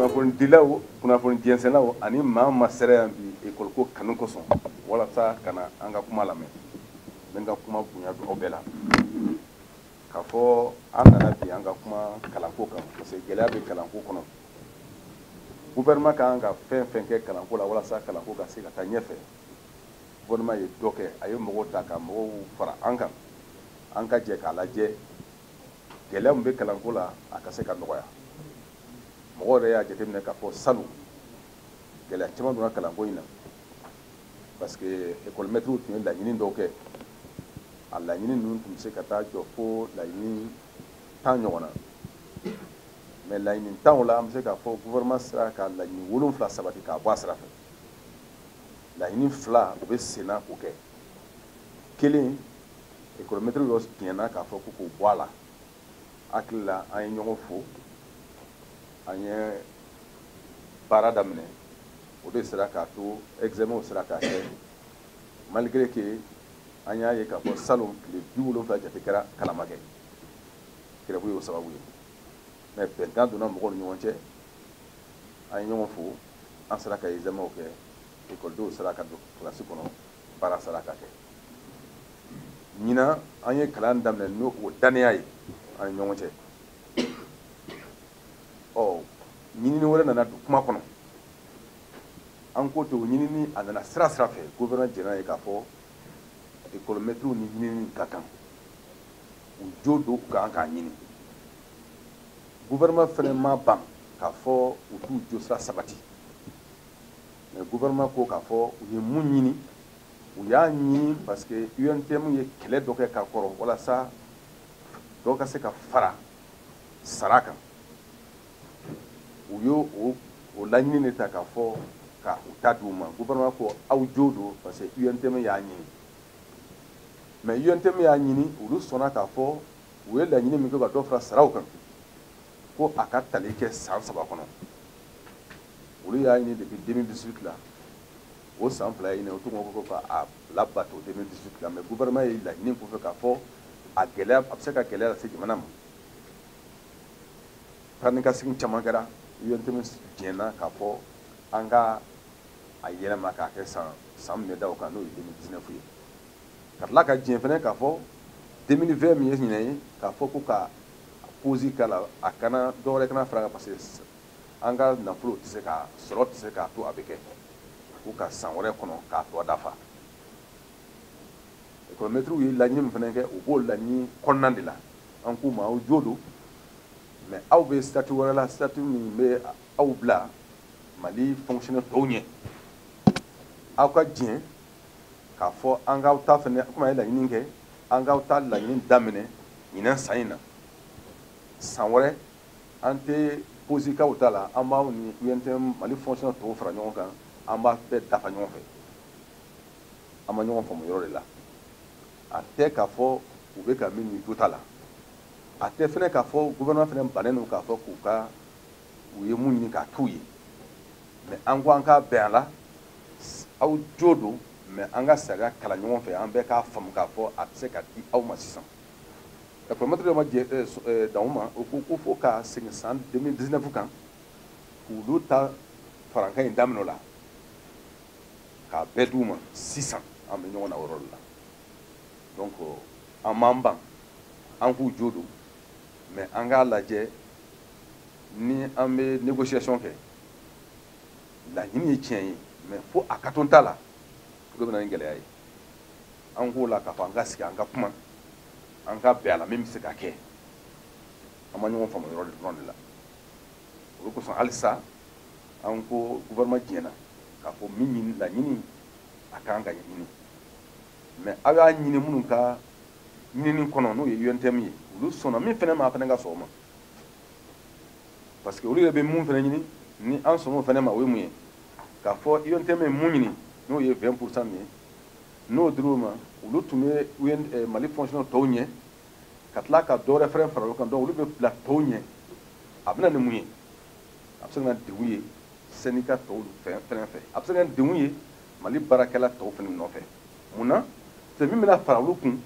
kunnafonidilaw kunnafoni jɛnsɛnnaw ani maa maa sera yan bi ekɔliko kanu kosɔn walasa ka na an ka kuma lamɛn n bɛ n ka kuma bonya don aw bɛɛ la k'a fɔ an nana bi an ka kuma kalanko kan parce que gɛlɛya bɛ kalanko kɔnɔ gouvernement ka kan ka fɛn fɛn kɛ kalanko la walasa kalanko ka se ka taa ɲɛfɛ Gouvernement ye dɔ kɛ, a ye mɔgɔw ta ka mɔgɔw fara an kan, an ka jɛ k'a lajɛ gɛlɛya min bɛ kalanko la a ka se ka nɔgɔya. Mɔgɔw yɛrɛ y'a jateminɛ k'a fɔ salon gɛlɛya caman donna kalanko in na parce que ekɔlimɛtiriw tun ye laɲini dɔw kɛ, a laɲini ninnu tun bɛ se ka taa jɔ fo laɲini tan ɲɔgɔn na mais laɲini tanw la an bɛ se k'a fɔ gouvernement sera ka laɲini wolonwula sabati k'a bɔ a sira fɛ. laɲini fila o bɛ senna k'o kɛ kelen ekɔlimɛtiri dɔ diɲɛna k'a fɔ ko k'o bɔ a la hakili la an ye ɲɔgɔn fo an ye baara daminɛ o de sera k'a to examenw sera ka kɛ malgré que an y'a ye k'a fɔ salon tile biwolonwula jate kɛra kalan ma kɛ grève y'o sababu ye mais bɛnkan donna mɔgɔw ni ɲɔgɔn cɛ an ye ɲɔgɔn fo an sera ka examenw kɛ ekɔlidenw sera ka don kilasi kɔnɔ baara sera ka kɛ ɲinan an ye kalan daminɛ ni o dannaya ye an ni ɲɔgɔn cɛ ɔ ɲinini wɛrɛ nana don kuma kɔnɔ an ko to ɲinini a nana sira sira fɛ gouvernement jɛnna ye k'a fɔ ekɔlimɛtiriw nin ɲinini ka kan u jo don u ka kan k'a ɲini Gouvernement fana ma ban k'a fɔ u t'u josira sabati mais gouvernement ko k'a fɔ u ye mun ɲini u y'a ɲini parce que UNTM ye kɛlɛ dɔ kɛ ka kɔrɔ walasa dɔ ka se ka fara sara kan u y'o o o laɲini de ta k'a fɔ ka u ta di u ma gouvernement ko aw jo don parce que UNTM y'a ɲini mais UNTM y'a ɲini olu sɔnna k'a fɔ u ye laɲini min kɛ ka dɔ fara saraw kan ko a ka tali kɛ san saba kɔnɔ olu y'a ɲini depuis 2018 la o san fila ye nin ye u tun ko ko a labato 2018 la mais gouvernement ye laɲini k'u fɛ k'a fɔ a gɛlɛya a bɛ se ka gɛlɛya lase jamana ma taa ni ka segin caman kɛra UNTM jɛnna k'a fɔ an ka a yɛlɛma k'a kɛ san san min bɛ da o kan n'o ye 2019 ye ka tila ka diɲɛ fana k'a fɔ 2020 min ye ɲinan ye k'a fɔ ko ka posi k'a la a kana dɔwɛrɛ kana fara a kan parce que an ka nafolo tɛ se ka sɔrɔ tɛ se k'a to a bɛ kɛ ko ka san wɛrɛ kɔnɔ k'a tɔ dafa ekɔlimɛtiriw ye laɲini min fana kɛ u b'o laɲini kɔnɔna de la an k'u ma aw jo don mɛ aw bɛ statut wɛrɛ la statut min bɛ aw bila mali fonctionnaire tɔw ɲɛ aw ka diɲɛ k'a fɔ an k'aw ta fana komi a ye laɲini kɛ an k'aw ta laɲini daminɛ ɲinan san in na san wɛrɛ an tɛ posi k'aw ta la an b'aw ni UNTM mali fonctionnaire tɔw fara ɲɔgɔn kan an b'a bɛɛ dafa ɲɔgɔn fɛ an ma ɲɔgɔn faamu o yɔrɔ de la a tɛ k'a fɔ u bɛ ka min ɲini jo t'a la a tɛ fana k'a fɔ gouvernement fana bannen don k'a fɔ k'u ka u ye mun ɲini k'a t'u ye mɛ an ko an k'a bɛn a la aw jo don mɛ an ka sariya kalan ɲɔgɔn fɛ an bɛɛ k'a faamu k'a fɔ a tɛ se ka di aw ma sisan ekɔlimɛtiriw dun ma dan o ma u ko ko fo ka segin san 2019 kan k'olu ta farankan in daminɛ o la k'a bɛɛ d'u ma sisan an bɛ ɲɔgɔn na o yɔrɔ de la donc an m'an ban an k'u jo don mɛ an k'a lajɛ ni an bɛ négociation kɛ laɲini ye tiɲɛ ye mɛ fo a ka to n ta la o de bɛ na ni gɛlɛya ye an k'o la k'a fɔ an ka sigi an ka kuma an ka bɛn a la min bɛ se ka kɛ an ma ɲɔgɔn faamu o yɔrɔ dɔrɔn de la o de kosɔn halisa an ko gouvernement diɲɛna k'a fɔ min ɲini laɲini a ka kan ka ɲini mɛ aw y'a ɲini minnu ka ɲinini kɔnɔ n'o ye untm ye olu sɔnna min fana ma aw fana ka sɔn o ma parce que olu yɛrɛ bɛ mun fana ɲini ni an sɔnn'o fana ma o ye mun ye k'a fɔ UNTM ye mun ɲini n'o ye 20 pourcent min ye n'o dir'u ma olu tun bɛ UN eh, Mali fonctionnaire tɔw ɲɛ ka tila ka dɔ wɛrɛ fana fara olu kan donc olu bɛ bila tɔw ɲɛ a bɛna ni mun ye a bɛ se ka na degun ye syndicat tɔw fana fan fɛ a bɛ se ka na degun ye mali baarakɛla tɔw fana nɔfɛ mun na c'est min bɛna fara olu kun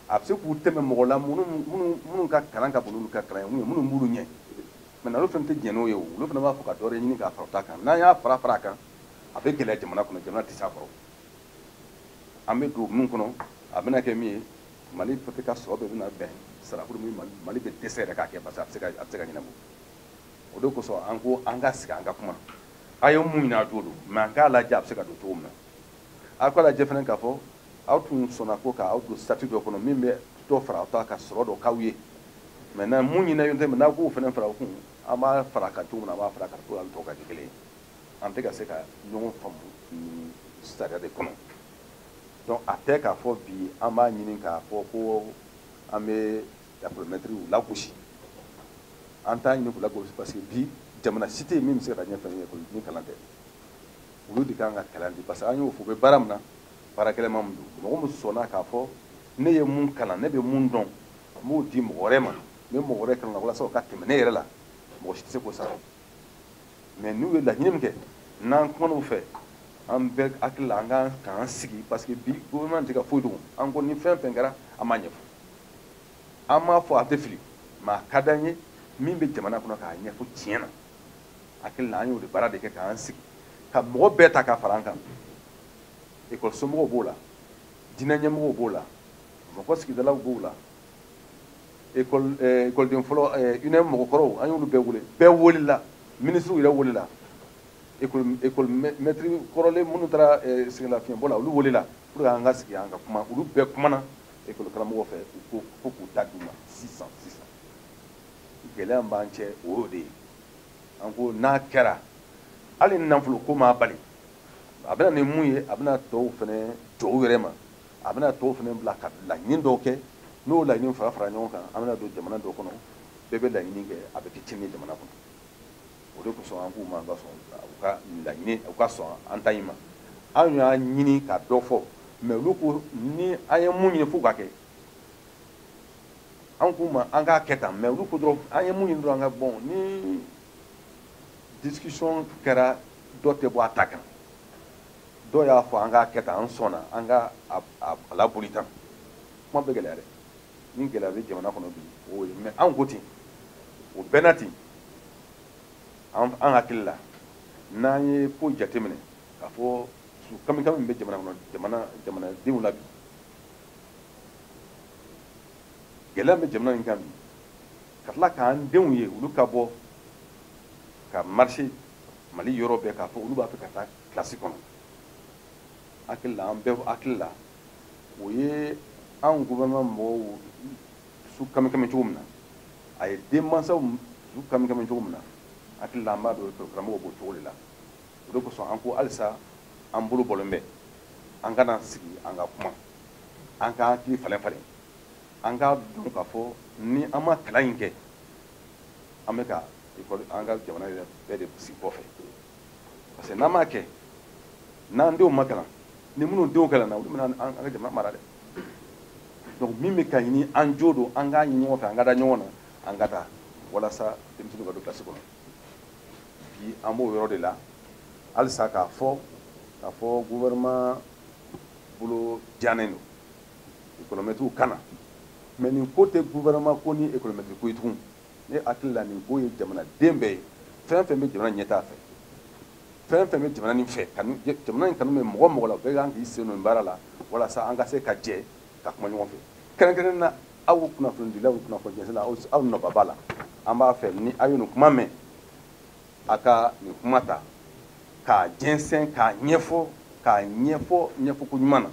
a bɛ se k'u tɛmɛ mɔgɔw la minnu ka kalan ka bon olu ka kalan ye minnu b'u ɲɛ mɛ olu fana tɛ jɛn n'o ye olu fana b'a fɔ ka dɔ ɲini k'a fara u ta kan n'a y'a fara fara a kan a bɛ gɛlɛya jamana kɔnɔ jamana t'a kɔrɔ an bɛ don minnu kɔnɔ a bɛna kɛ min ye mali fɛ ka sɔrɔ bɛɛ bɛna bɛn sarako rɔ mali bɛ dɛsɛ yɛrɛ k'a kɛ parce que a bɛ se ka ɲɛnabɔ o de kosɔn an ko an ka sigi an ka kuma aw ye mun ɲini aw jo don mɛ an k'a lajɛ a bɛ se ka don cogo min na a k'a lajɛ fana k'a fɔ aw tun sɔnna ko ka aw don sarati dɔ kɔnɔ min bɛ dɔ fara aw ta kan ka sɔrɔ dɔ k'aw ye mais na mun ɲinɛ ɲɔgɔn tɛ mais n'aw k'o fana fara kan an b'a fara kan cogo min na an b'a fara kan cogo an tɔ ka kɛ kelen an tɛ ka se ka ɲɔgɔn faamu nin sariya de kɔnɔ donc a tɛ k'a fɔ bi an b'a ɲini k'a fɔ ko an bɛ lakɔlimɛtiriw lagosi an t'a ɲini k'u lagosi parce que bi jamana si tɛ yen min bɛ se ka taa ɲɛfɛ ni kalan tɛ olu de kan ka kalan di parce que an y'o fɔ u bɛ baara min na baara gɛlɛman min don mɔgɔ min sɔnna k'a fɔ ne ye mun kalan ne bɛ mun dɔn n b'o di mɔgɔ wɛrɛ ma n bɛ mɔgɔ wɛrɛ kalan walasa o ka tɛmɛ ne yɛrɛ la mɔgɔ si tɛ se k'o sara mais n'u ye laɲini min kɛ n'an kumana u fɛ an bɛɛ hakili la an ka k'an sigi parce que bi gouvernement tɛ ka foyi dogo an ko ni fɛn fɛn kɛra an b'a ɲɛfɔ an m'a fɔ a tɛ fili mais a ka d'an ye min bɛ jamana kɔnɔ k'a ɲɛfɔ tiɲɛ na hakili la an y'o de baara de kɛ k'an sigi ka mɔgɔ bɛɛ ta ka fara an kan ekɔlisomɔgɔw b'o la diinɛ ɲɛmɔgɔw b'o la mɔgɔ sigidalaw b'o la ekɔliden eh, fɔlɔ eh, uneem mɔgɔkɔrɔw an y'olu bɛɛ wele bɛɛ welela minisiriw yɛrɛ welela ekɔlimɛtiri kɔrɔlen minnu taara eh, sɛgɛnlafiɲɛbɔ la olu welela pour que an ka sigi an ka kuma olu bɛɛ kumana ekɔlikaramɔgɔ fɛ u ko fo k'u ta d'u ma sisan sisan gɛlɛya b'an cɛ o y'o de ye an ko n'a kɛra hali nafolo ko m'a bali a bɛna ni mun ye a bɛna tɔw fana jɔ u yɛrɛ ma a bɛna tɔw fana bila ka laɲini dɔw kɛ n'o laɲini fara fara ɲɔgɔn kan an bɛna don jamana dɔ kɔnɔ bɛɛ bɛ laɲini kɛ a bɛ kɛ tiɲɛni ye jamana kɔnɔ o de kosɔn an k'u ma ka sɔn u ka laɲini u ka sɔn an ta in ma anw y'a ɲini ka dɔ fɔ mais olu ko ni an ye mun ɲini fo o ka kɛ an k'u ma an k'a kɛ tan mais olu ko dɔrɔn an ye mun ɲini dɔrɔn an ka bɔn ni discussion kɛra dɔ tɛ bɔ a ta kan dɔw y'a fɔ an k'a kɛ tan an sɔnna an ka a laboli tan kuma bɛ gɛlɛya dɛ ni gɛlɛya bɛ jamana kɔnɔ bi o ye mais an ko ten o bɛɛ na ten an hakili la n'an ye ko jateminɛ k'a fɔ su kamikami min bɛ jamana kɔnɔ jamana jamanadenw la bi gɛlɛya bɛ jamana in kan bi ka tila k'an denw ye olu ka bɔ ka marcher mali yɔrɔ bɛɛ k'a fɔ olu b'a fɛ ka taa kilasi kɔnɔ hakili la an bɛɛ hakili la o ye an gouvernement mɔgɔw su kamikami cogo min na a ye denmansaw su kamikami cogo min na hakili la an b'a dɔn karamɔgɔ b'o cogo de la o de kosɔn an ko halisa an bolo bɔlen bɛ an ka na sigi an ka kuma an ka hakili falen falen an k'a dɔn k'a fɔ ni an ma kalan in kɛ an bɛ ka ekɔli an ka jamana yɛrɛ bɛɛ de segin kɔfɛ parce que n'an m'a kɛ n'an denw ma kalan ni minnu denw kalanna olu bɛna an ka jamana mara dɛ donc min bɛ ka ɲini an jo don an k'a ɲini ɲɔgɔn fɛ an ka da ɲɔgɔn na an ka taa walasa denmisɛnninw ka don kilasi kɔnɔ bi an b'o yɔrɔ de la halisa k'a fɔ k'a fɔ gouvernement bolo jannen don ekɔlimɛtiriw ka na mɛ nin ko tɛ gouvernement ko ni ekɔlimɛtiri ko ye tugun ne hakili la nin ko ye jamanaden bɛɛ ye fɛn fɛn bɛ jamana ɲɛtaa fɛ fɛn fɛn bɛ jamana nin fɛ jamana in kanu bɛ mɔgɔ mɔgɔ la bɛɛ kan k'i sen don baara la walasa an ka se ka jɛ ka kuma ɲɔgɔn fɛ kɛrɛnkɛrɛn na aw kunnafonidilaw kunnafonidila aw nɔba b'a la an b'a fɛ ni aw ye nin kuma mɛn a ka nin kuma ta k'a jɛnsɛn k'a ɲɛfɔ k'a ɲɛfɔ ɲɛfɔko ɲuman na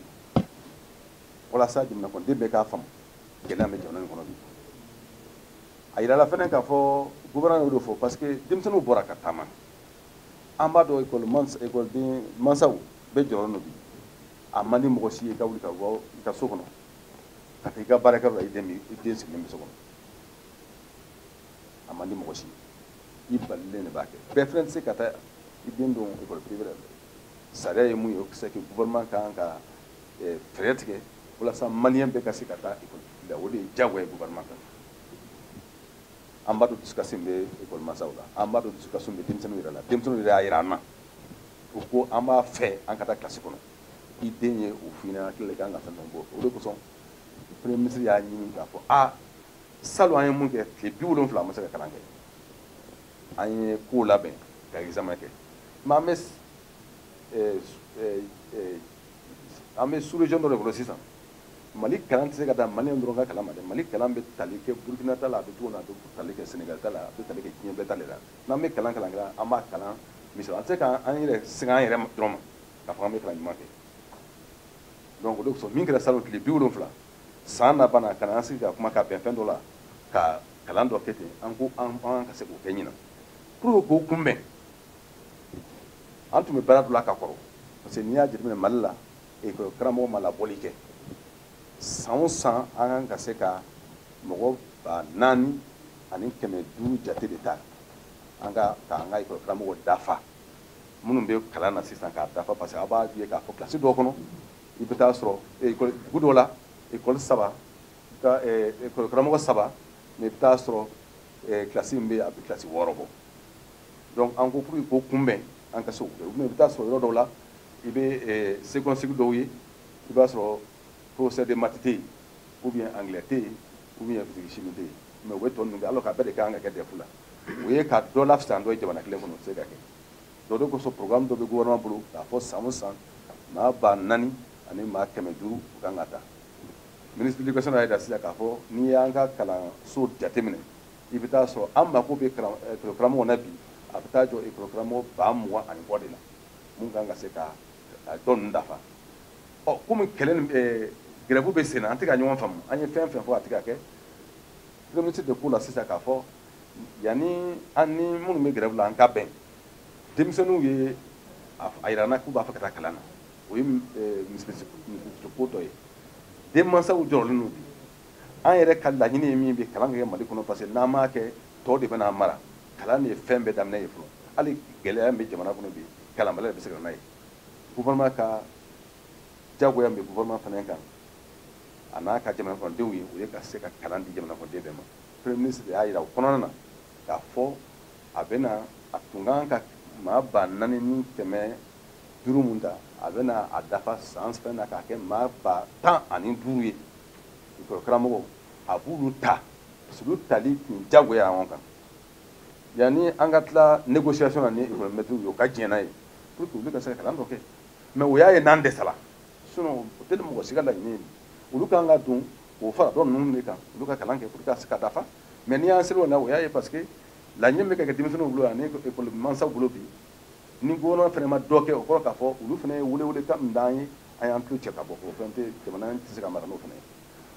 walasa jamanakɔnɔden bɛɛ k'a faamu gɛlɛya min bɛ jamana in kɔnɔ bi a yirala fana k'a fɔ gouvernement y'o de fɔ parce que denmisɛnninw bɔra ka taama an b'a dɔn ekɔli mansa ekɔliden mansaw bɛ jɔrɔ la bi a man di mɔgɔ si ye i ka wuli ka bɔ i ka so kɔnɔ ka taa i ka baarakɛyɔrɔ la i den i den sigilen bɛ so kɔnɔ a man di mɔgɔ si ye i balilen de b'a kɛ bɛɛ fana tɛ se ka taa i den don ekɔli privé la sariya ye mun ye o c'est que gouvernement ka kan ka eh, fɛɛrɛ tigɛ walasa maliyɛn bɛɛ ka se ka taa ekɔli la o de ye diyagoya ye gouvernement kan an b'a dɔn dusukasi bɛ ekɔli mansaw la an b'a dɔn dusukasi bɛ denmisɛnninw yɛrɛ la denmisɛnninw yɛrɛ y'a jira an na u ko an b'a fɛ an ka taa kilasi kɔnɔ i den ye o f'i ɲɛna n hakili la i kan ka fɛn dɔ bɔ o de kosɔn premier ministre y'a ɲini k'a fɔ a salon an ye mun kɛ tile bi wolonwula an ma se ka kalan kɛ an ye kow labɛn ka examen kɛ mɛ an bɛ an bɛ sous-région dɔ de kɔnɔ sisan mali kalan tɛ se ka taa mali dɔrɔn ka kalan ma dɛ mali kalan bɛ tali kɛ burkina ta la a bɛ cogo min a bɛ tali kɛ senegal ta la a bɛ tali kɛ diɲɛ bɛɛ ta de la n'an bɛ kalan kalan kɛra an b'a kalan misali an tɛ se k'an yɛrɛ segin an yɛrɛ dɔrɔn ma k'a fɔ an bɛ kalan ɲuman kɛ donc o de kosɔn min kɛra salon tile bi wolonwula san laban na ka na an sigi ka kuma ka bɛn fɛn dɔ la ka kalan dɔ kɛ ten an ko an ka se k'o kɛ ɲinan pour que k'o kunbɛn an tun bɛ baara dɔ la ka kɔrɔ parce que n'i y'a jateminɛ mali la ekɔli karamɔgɔ ma labɔli kɛ san o san an kan ka se ka mɔgɔ ba naani ani kɛmɛ duuru jate de ta an ka ka an ka ekɔli karamɔgɔ dafa minnu bɛ kalan na sisan k'a dafa parce que a b'a ye k'a fɔ kilasi dɔ kɔnɔ i bɛ taa sɔrɔ ekɔli dugu dɔ la ekɔli saba ekɔli karamɔgɔ saba mɛ i bɛ taa sɔrɔ kilasi min bɛ yen a bɛ kilasi wɔɔrɔ bɔ donc an ko pour que k'o kunbɛn an ka se k'o kɛ u bɛ i bɛ taa sɔrɔ yɔrɔ dɔw la i bɛ eh, second cycle dɔw ye i b'a sɔrɔ professeur de maths tɛ yen ou bien anglais tɛ yen ou bien physique chimie tɛ yen mais u bɛ tɔ ninnu kɛ alors que a bɛɛ de ka kan ka kɛ DEF la o ye ka dɔ lafisa dɔ ye jamana kelen kɔnɔ o tɛ se ka kɛ donc o de kosɔn programme dɔ bɛ gouvernement bolo k'a fɔ san o san maa ba naani ani maa kɛmɛ duuru u kan ka ta ministre de l'éducation y'a jira sisan k'a fɔ n'i y'an ka kalanso jateminɛ i bɛ taa sɔrɔ an mako bɛ karamɔgɔ na bi a bɛ taa jɔ karamɔgɔ ba mugan ani kɔ de la min kan ka se ka dɔ ninnu dafa ɔ kɔmi grève bɛ sen na an tɛ ka ɲɔgɔn faamu an ye fɛn fɛn fɔ a tɛ ka kɛ premier ministre de k'o la sisan k'a fɔ yanni an ni minnu bɛ grève la an ka bɛn denmisɛnninw y'a yira an na k'u b'a fɛ ka taa kalan na o ye misikito dɔ ye denmansaw jɔrɔlen don bi an yɛrɛ ka laɲini ye min bɛ kalan kɛ mali kɔnɔ parce que n'an m'a kɛ dɔ de bɛn'an mara kalan de ye fɛn bɛɛ daminɛ ye fɔlɔ hali gɛlɛya bɛ jamana kɔnɔ bi kalanbaliya bɛ se ka na ye gouvernement ka jagoya min bɛ gouvernement fana kan a n'a ka jamanakɔnɔdenw ye o ye ka se ka kalan di jamanakɔnɔden bɛɛ ma premier ministre de y'a jira o kɔnɔna na k'a fɔ a bɛna a tun kan ka maa ba naani ni kɛmɛ duuru min ta a bɛna a dafa san fɛn na k'a kɛ maa ba tan ani duuru ye volontaire karamɔgɔ a b'olu ta parce que olu tali tun jagoya ɲɔgɔn kan yanni an ka tila négociation na ni école maîtres ye u ka diɲɛ n'a ye pour que olu ka se ka kalan dɔ kɛ mais o y'a ye n'an dɛsɛra sinon o tɛ mɔgɔ si ka laɲini ye olu kan ka don ka fara dɔ ninnu de kan olu ka kalan kɛ pour que ka se ka dafa mais n'i y'an selen ye o la o y'a ye parce que laɲini bɛ ka kɛ denmisɛnninw bolo ani école mansaw bolo bi ni gouvernement fana ma dɔ kɛ o kɔrɔ k'a fɔ olu fana ye welewelekan min d'an ye an y'an tulo cɛ ka bɔ o fɛn tɛ jamana tɛ se ka mara n'o fana ye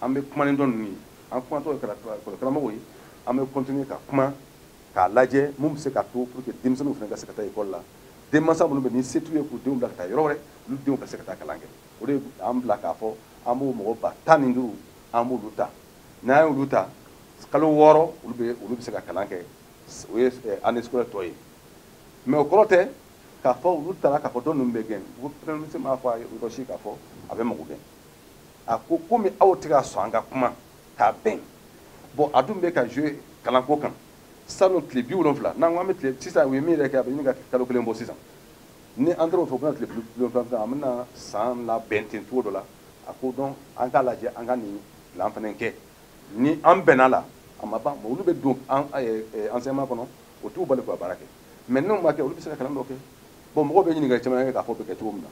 an bɛ kuma ni dɔ ninnu ye an kumatɔ école karamɔgɔw ye an bɛ continuer ka kuma k'a lajɛ mun bɛ se k'a to pour que denmisɛnninw fana ka se ka taa école la denmansa minnu bɛ ni se t'u ye k'u denw bila ka taa yɔrɔ wɛrɛ olu denw ka se ka taa kalan kɛ o de y'an bila k'a fɔ an b'o mɔgɔ ba tan ni duuru an b'olu ta n'an y'olu ta kalo wɔɔrɔ olu bɛ olu bɛ se ka kalan kɛ o ye année scolaire tɔ ye mais o kɔrɔ tɛ k'a fɔ olu tara k'a fɔ dɔ ninnu bɛ gɛn ko premier ministre m'a fɔ a yɔrɔ si k'a fɔ a bɛ mɔgɔ gɛn a ko komi aw tɛ ka sɔn an ka kuma ka bɛn bon a dun bɛ ka jouer kalanko kan salon tile bi wolonfila n'an ko an bɛ tile sisan u ye min yɛrɛ kɛ a bɛ ɲini ka kalo kelen bɔ sisan ni an taara o fɛ u bɛna tile bi wolonfila fɛ an bɛna san laban ten cogo dɔ la a ko donc an k'a lajɛ an ka nin plan fana kɛ ni an bɛnna la a ma ban olu bɛ don an enseignement kɔnɔ o t'u bali k'u ka baara kɛ mais n'u m'a kɛ olu bɛ se ka kalan dɔ kɛ bon mɔgɔw bɛ ɲininkali caman kɛ k'a fɔ bɛ kɛ cogo min na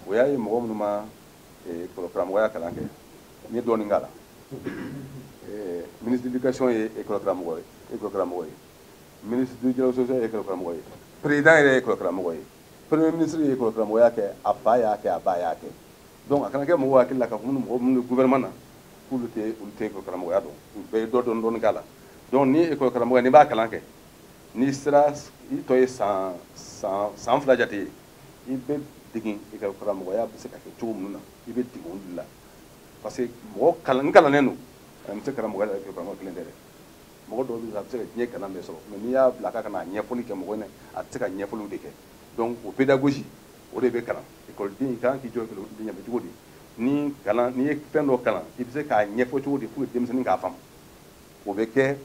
o y'a ye mɔgɔ minnu ma eh, karamɔgɔya kalan kɛ n ye dɔɔnin k'a la eh, ministre d'éducation ye école karamɔgɔ ye école karamɔgɔ ye ministre du dialogue social ye école karamɔgɔ ye président yɛrɛ ye école karamɔgɔ ye premier ministre ye école karamɔgɔya kɛ a fa y'a kɛ a ba y'a kɛ donc a kana kɛ mɔgɔw hakili la k'a fɔ minnu mɔgɔ minnu bɛ gouvernement na k'olu tɛ olu tɛ ekɔli karamɔgɔya dɔn u bɛɛ ye dɔ dɔn dɔɔni k'a la donc ni ekɔli karamɔgɔya n'i b'a kalan kɛ n'i sera i tɔ ye san san san fila jate ye i bɛ degin ekɔli karamɔgɔya bɛ se ka kɛ cogo minnu na i bɛ degin olu la parce que mɔgɔ kalan n kalannen don a bɛ se karamɔgɔya la ekɔli karamɔgɔ kelen tɛ dɛ mɔgɔ dɔw bɛ a bɛ se ka diɲɛ kalan bɛɛ sɔrɔ mais n'i y'a bila k'a ka na ɲɛfɔli kɛ mɔgɔ ɲɛ a tɛ se ka ɲɛfɔliw de kɛ donc o pédagogie o de bɛ kalan ekɔliden kan k'i jɔ ekɔliden ɲɛfɛ cogo di ni kalan n'i ye fɛn dɔ kalan i bɛ se k'a ɲɛfɔ cogo di pour que denmisɛnnin k'a faamu o bɛ kɛ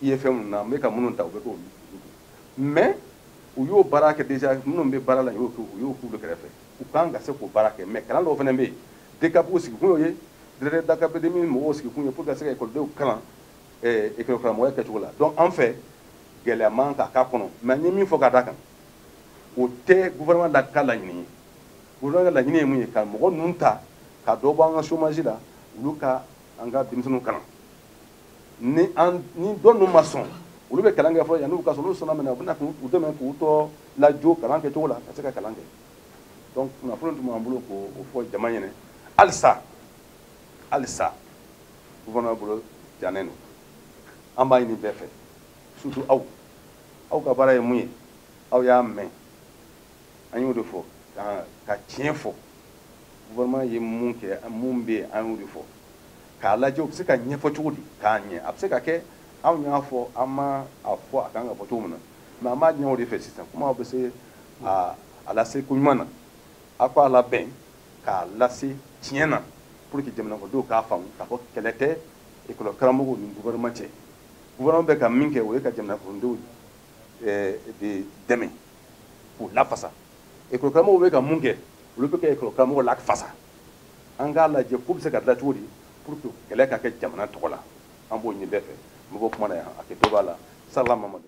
IFM ninnu na an bɛ ka minnu ta o bɛ k'olu mais u y'o baara kɛ déjà minnu bɛ baara la u y'o kɛ u y'o k'u kɛrɛfɛ u kan ka se k'o baara kɛ mais kalan dɔw fana bɛ yen DCAP u sigikun y'o ye directeur d'académie mɔgɔw sigikun ye pour que ka se ka ekɔlidenw kalan ekɔlikaramɔgɔya kɛcogo la donc an fɛ gɛlɛya man kan ka k'a kɔnɔ mais n ye min fɔ ka d'a kan o tɛ gouvernement de ka laɲini ye gouvernement ka laɲini ye mun ye ka mɔgɔ ninnu ta ka dɔ bɔ an ka chômage la olu ka an ka denmisɛnninw kalan ni an ni dɔ ninnu ma sɔn olu bɛ kalan kɛ fɔlɔ yanni u ka sɔn n'u sɔnna minɛ u bɛna k'u dɛmɛ k'u tɔ lajo kalan kɛcogo la ka se ka kalan kɛ donc kunnafoni tun b'an bolo k'o fɔ jama ɲɛna halisa halisa gouvernement bolo jannen don an b'a ɲini bɛɛ fɛ surtout aw aw ka baara ye mun ye aw y'a mɛn aw y'o de fɔ ka tiɲɛ fɔ gouvernement ye mun kɛ mun bɛ yen an y'o de fɔ k'a lajɛ u bɛ se ka ɲɛfɔ cogo di k'a ɲɛ a bɛ se ka kɛ anw y'a fɔ an m'a fɔ a kan ka fɔ cogo min na mais an b'a ɲini aw de fɛ sisan kuma bɛ se a a lase ko ɲuman na aw k'a labɛn k'a lase tiɲɛ na pour que jamanakɔnɔdenw k'a faamu k'a fɔ kɛlɛ tɛ ekɔlikaramɔgɔw ni gouvernement cɛ gouvernement bɛ ka min kɛ o ye ka jamanakɔnɔdenw eh, de dɛmɛ k'u lafasa ekɔli karamɔgɔw bɛ ka mun kɛ olu bɛ ka ekɔli karamɔgɔw lafasa an k'a lajɛ k'o bɛ se ka dilan cogo di pour que kɛlɛ ka kɛ jamana tɔgɔ la an b'o ɲini bɛɛ fɛ n bɛ bɔ kuma na yan hakɛto b'a la salamamadu